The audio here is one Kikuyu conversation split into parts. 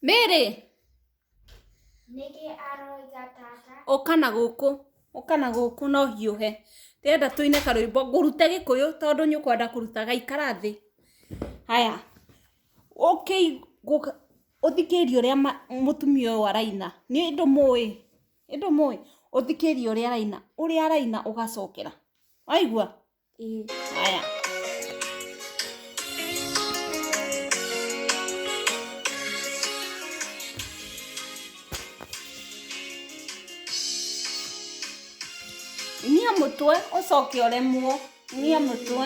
Mary! Nĩkĩ aroiga tata? Ũka na gũkũ, ũka na gũkũ no hiũhe. Ndĩrenda tũine karwĩmbo, ngũrute gĩkũyũ tondũ nĩ ũkwenda kũruta gaikara thĩ. Haya, ũkĩ ũthikĩrĩrie ũrĩa mũtumia ũyũ araina. Nĩ ndũmũĩ, nĩ ndũmũĩ? Ũthikĩrĩrie ũrĩa araina, ũrĩa araina ũgacokera. Waigua? Y... Niĩ mũtwe ũcoke ũremwo niĩ mũtwe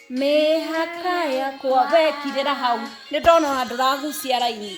Mĩhaka yakwa. We kirĩra hau. Nĩ ndona ona ndũragucia raini.